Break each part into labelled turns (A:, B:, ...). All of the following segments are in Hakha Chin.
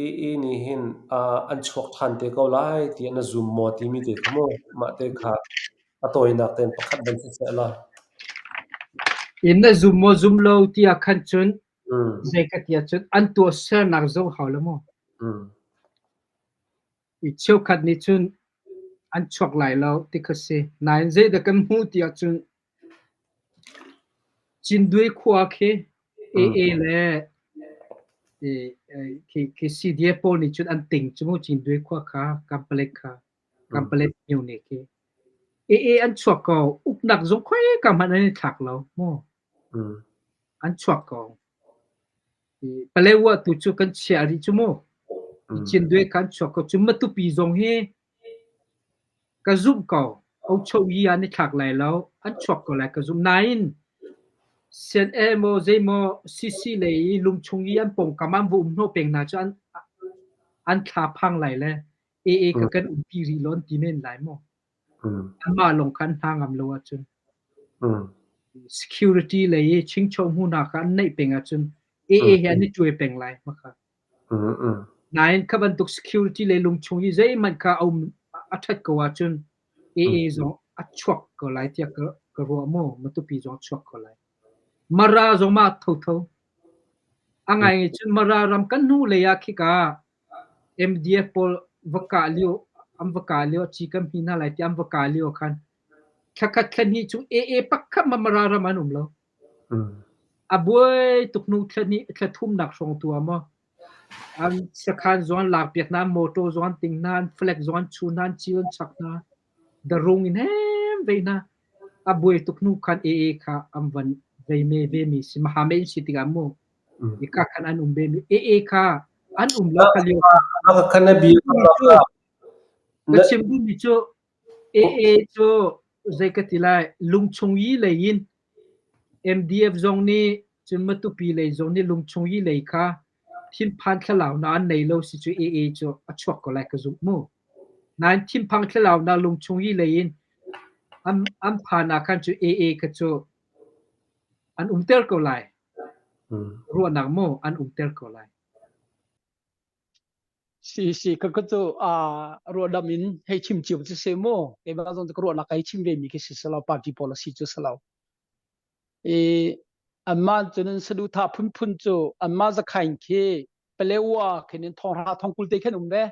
A: Ii nih hin an chuak ṭhan te ko lai tiah na zum maw timi te kha mu. Mah te kha a tawinak tein pakhat van si seh law.
B: In na zum maw zum lo ti ah khan cun zei ka ti ahcun an tuahsernak zong hau lo maw. Mi cheukhat nih cun an chuak lai lo ti kha si. Nain zeidah kan hmuh ti ahcun Cindwe khua khi AA le i khi khi CDA pawl nih cun an ting cu mu Cindwe khua kha Kampalek kha Kampalek muni khi AA an chuak ko uknak zung khoi ka hmanh an i thlak lo mu an chuak ko Paletwa tu cu kan chiah rih cu mu. Nicindwe kan chuak ko. Cu Matupi zong hi ka zumh ko. Ochoyi an i thlak lai lo. An chuak ko lai ka zumh. Nain, sian maw zeimaw CC lei i lungchung i an pawngkam an vum hnawh peng hna cu an an thla phang lai le AA ka kan umpi rih lo an ti men lai maw? Amah lawng kha an hna ngam lo ahcun security lei i chingchaw hmu hna kha an naih peng ahcun AA he an i cuai peng lai hmaka. Nain kha bantuk security lei lungchung hi zeihmanh kha a um a ṭhat ko ahcun AA zong a chuak ko lai tiah ka ruah maw matupi zong a chuak ko lai. Mara zong mah thotho. A ngai cun Mara ram kan hnu lei ah khika MDF pawl va kah lio an va kah lio a ci kan hmi hna lai tiah an va kah lio ah khan thla khat thla hnih cu AA pakhat Mara ram an um lo. A buai tuk hnu thla hnih thla thumnak hrawng tu ah maw an sakhan zuan lak piak nan motor zuan ting nan flag zuan chu nan chi an chak na the rung in hem ve na a buai tuk nu khan AA kha an van ve me ve mi si ma ha men si tiga mu Hika khan an um ve mi ee kha an um lo ka lio
A: na
B: chim duhmi cu ee cu zei ka ti lai lungchung i lei in MDF zong nih cun Matupi lei zong nih lungchung i lei kha thinphan thlalau na an nei lo si cu ee cu a chuak ko lai ka zumh mu. Nain thinphang thlalau na lungchung i lei in an phan ah khan cu ee kha cu An umter ko lai. Ruahnak maw an umter ko lai?
C: Si si ka ka cu uh, ruahdam in hei chim ciu cu se maw keimah zong ka ruahnak hei chim ve mi khi si selo party policy cu selo i anma cun saduhthah phunphun cu anma zakhain khi palewa khin in thonghra thongkul te khin um ve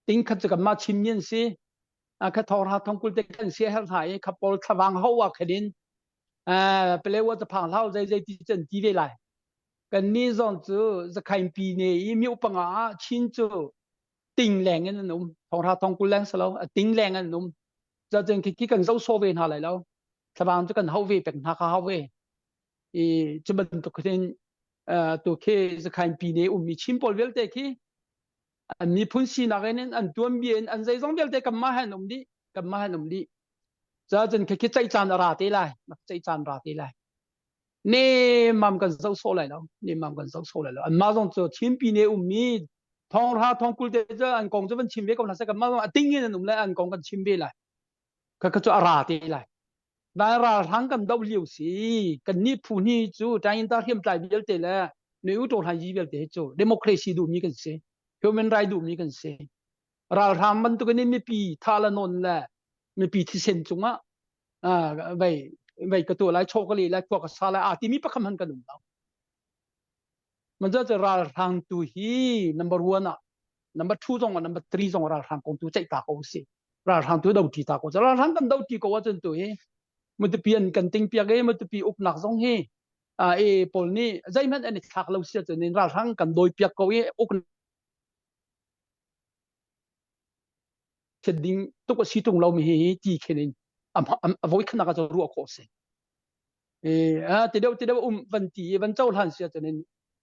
C: tingkhat cu kanmah chim mi an si a kha thawra thong kul te kan si a herh hna i kha pawl thlavang hawa khelin pelewa ta phang hlau zai zai ti chan ti ve lai kan ni zon cu zakhain pi ne i mi upanga ah chin cu ting leng in an um thawra thong kul leng salo a ting leng an um cho chang khi khi kan zo so ve hna lai lo thlavang chu kan hau ve pek hna kha hau ve i chuban tuk hin tu khi zakhain pi ne um mi chim pol vialte khi an miphun sinak in an tuanbia in an zeizong vialte kanmah he an um dih kanmah an um dih cun khi khi ceih caan a ra te lai nak ceih caan ra te lai nemam kan zo so lai lo nemam kan zo so lai lo anmah zong cu chimpi ne ummi thong ra thong kul te cu an kong cu van chim ve ko hna se kanmah zong a ting in an um lai an kong kan chim ve lai ka ka cu a ra te lai dai ralhrang kan doh lio si kan ni phu ni cu tangin ta hriam tlai vialte le noi u to hlai ji vialte hi cu democracy du mi kan si human right du mi kan si ralhrang bantukin in mipi tha la non le mipi thisen cungah vai vai ka tu lai chok li lai kuak sa lai a timi pakam han kan um lo Majority ralhrang tu hi number one ah number two zong ah number three zong ralhrang kong tu ceih ta ko si ralhrang tu do ti ta ko ralhrang kan do ti ko a cun tu hi mutapi an kan ting piak e mutapi uknak zong hi a e paul ni zeihmanh an i thlak lo sia cun in ralhrang kan doi piak ko i uknak Thlet ding tuk a si tung lomi hi ti khen in a voi khanak ah ruah khawh a si. a te deuh te deuh um van ti i van co hlan si ahcun in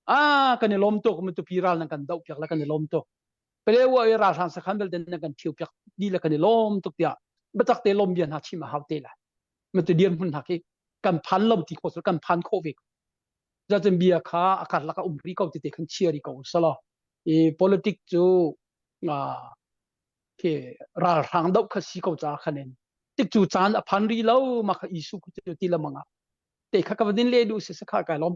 C: a kan i lom tuk mi tu pi ral nan kan doh piak la kan i lom tuk pele wa i ral hlan sakhan belte nan kan thiu piak ni la kan i lom tuk tiah batak te lom bian ha chim a hau te la mi tu dian hun hak hi kan phan lo ti kho kan phan kho ve zaten bia kha a karlak a um rih ko tete kan chia rih ko salo i politic cu uh, ke ralhrang dau kha si ko ca khanen tik cu caan a phan ri lo ma kha isu ku ti lamanga te kha ka vadin le du se sa kha kai lom